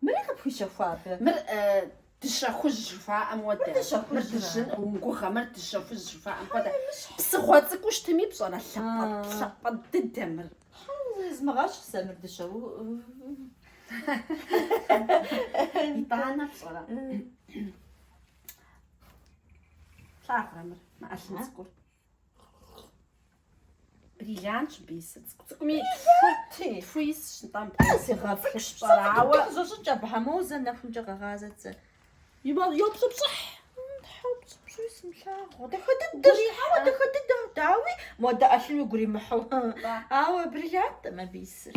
Мыри къыпхуищэхуа абы? Мыр дыщэ хужь жыхуаӏэм хуэдэ. Мыр дыжьын, умыгугъэ, мыр дыщэ хужь жыхуаӏэм хуэдэ. Псыгъуэ цӏыкӏуу щытми пщӏэрэ, лъапӏэ дыдэ мыр. Змыгъэщ сэ мыр дыщэ. Итӏанэ пщӏэрэ. Плъагъурэ мыр, мы ӏэлъын цӏыкӏур. Бриллиантщ абы исыр цӏыкӏу цӏыкӏуми тху, тху исщ нтӏэм. Зигъэфыщӏэрауэ зэщӏыкӏ абы моуэ зэ нэхумкӏэ къэгъазэт зэ. Йопщӏыпщӏыхь. Тхьэуэ, пщӏыпщӏи сымылъагъу. Дахэ дыдэщ, ауэ дахэ дыдэ, дауи, модэ ӏэлъын уигу иримыхьу. Ауэ бриллиантӏым абы исыр.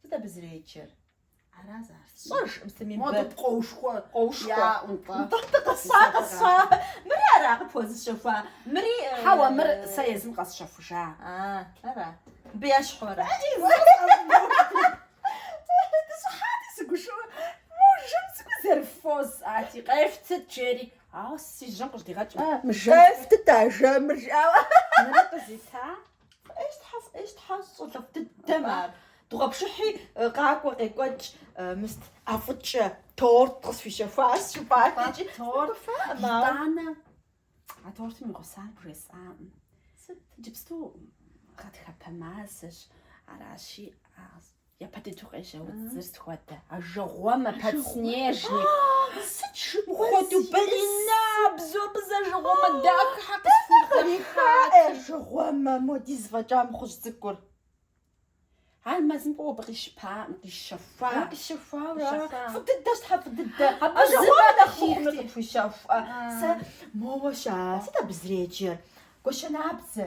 Сыт абы зэреджэр? Ара зар сщӏэж псыми бэ. Модэ пкъоушхуэ. Къоушхуэ. Яӏунтӏэ. Нтӏэ къысщӏа, къысщӏа. Мыри ара къыпхуэзыщэхуа? Мыри. Хьэуэ, мыр сэ езым къэсщэхужа. А, ара. Мыбы ещхьу ара? Дыщӏыхьати, сыгушыӏуэ. Мо жэм цӏыкӏуи зэрыффосӏати, къефтыт, жери. Ауэ си жьэм къыщыдигъэкӏ. Жэм. Къефтыт а жэмыр, жиӏауэ. Мыри къызита? Ӏейщ тхьэ, ӏейщ тхьэ, щӏалэфӏ дыдэм ар. Дыгъуэпшыхьи къакӏуэ, къекӏуэкӏ, мы сыт ӏэфӏыкӏэ торт къысхуищэхуащ, жыпӏат икӏи. Торт, итӏанэ, а тортым и гъусар бжесӏакъым. Сыт? Иджыпсту гъатхэпэ мазэщ, аращи, Япэ дыдэу къежьэ удзыр сыт хуэдэ. Ажэгъуэмэ подснежник. Сыт хуэдэу балерина бзо бзэ ажэгъуэмэ дахэ къысхуихьа ажэгъуэмэ модэ зы фӏэкӏа мыхъужь цӏыкӏур. Ар мэзым кӏуэуэ къищыпаӏым, къищэхуа. Къищэхуауэ, фӏы дыдэщ тхьэ, фӏы дыдэ. Ажэгъуэмэ нэхъ мыхъумэ къыпхуищэхуэ. Сэ моуэ ща, сыт абы зреджэр? Гуащэнабдзэ.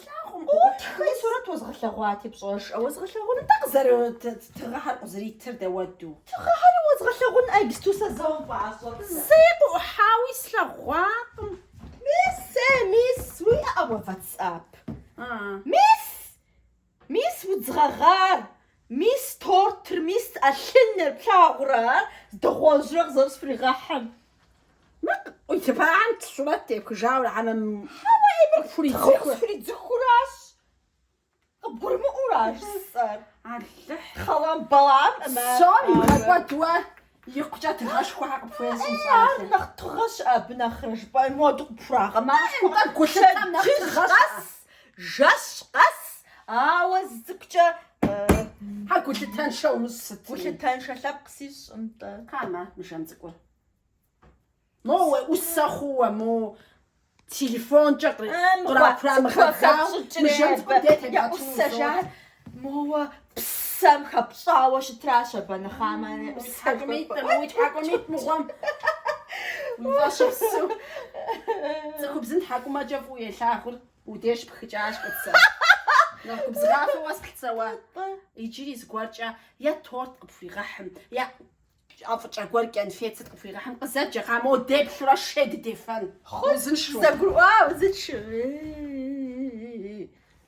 Плъагъум, къыӏутххэи сурэт уэзгъэлъэгъуати, пщӏэж. Уэзгъэлъагъуну тӏэ къызэрыт тыгъэхэр къызэритыр дауэду? Тыгъэхэри уэзгъэлъагъун иджыпсту сэ зэ умыпӏащӏэт. Зэи къыӏухьауи слъэгъуакъым. Мис, э, мис, уиӏэӏэ уэ ватсап? А. Мис! Мис, удз гъэгъар! Мис тортыр, мис ӏэлъыныр плъагъурэ, ар дыгъуэжьрэ къызэрысфригъэхьым. Мыр къыӏуилывахэм сурэт тепхыжауэ хьэмэ къысфридзыхыу аращ, къыбгурымыӏуэу ар жысӏэр. Алыхь! Хъэламбалам! Псом игъэкӏуэд уэ! Икъукӏэ тыгъэшхуэхэр къыпхуезу ар нэхъ тыгъэщ абы нэхърэ жыпӏэн моду къыпхурагъэмахуэ. Гулъытэм нэхъ тыгъэщ. Жэщ къэс, ауэ зы цӏыкӏукӏэ Хьэ гулъытэншэу сыт? Гулъытэншэ лъэпкъ сищӏкъым нтӏэ. Хамэ, мы жэм цӏыкӏур. Моуэ усэ хъууэ, мо телефонкӏэ кърамыгъэдзауэ, мы жэнцӏкӏуэм де тедгъэтыну. Моуэ псэм хэпщӏауэ щытращ абы нэхъамэ. Уи тхьэкӏум итӏым, уи тхьэкӏум ит мыгъуэм. Фӏэщыпсу. Цӏыхубзым тхьэкӏумэкӏэ фӏыуэ елъагъури уи деж пхыкӏащ Кӏуцэ. Нэхъ губзыгъафэу уэс Кӏуцэ уэ. Иджыри зыгуэркӏэ е торт къыпхуигъэхьым, е... Ӏэфӏыкӏэ гуэр кӏэнфет сыт къыпхуигъэхьым къызэджэ, кхъа моуэ деплъурэ шей дыдефэн. Хъунщ, дызэгурыӏуа узыншэу.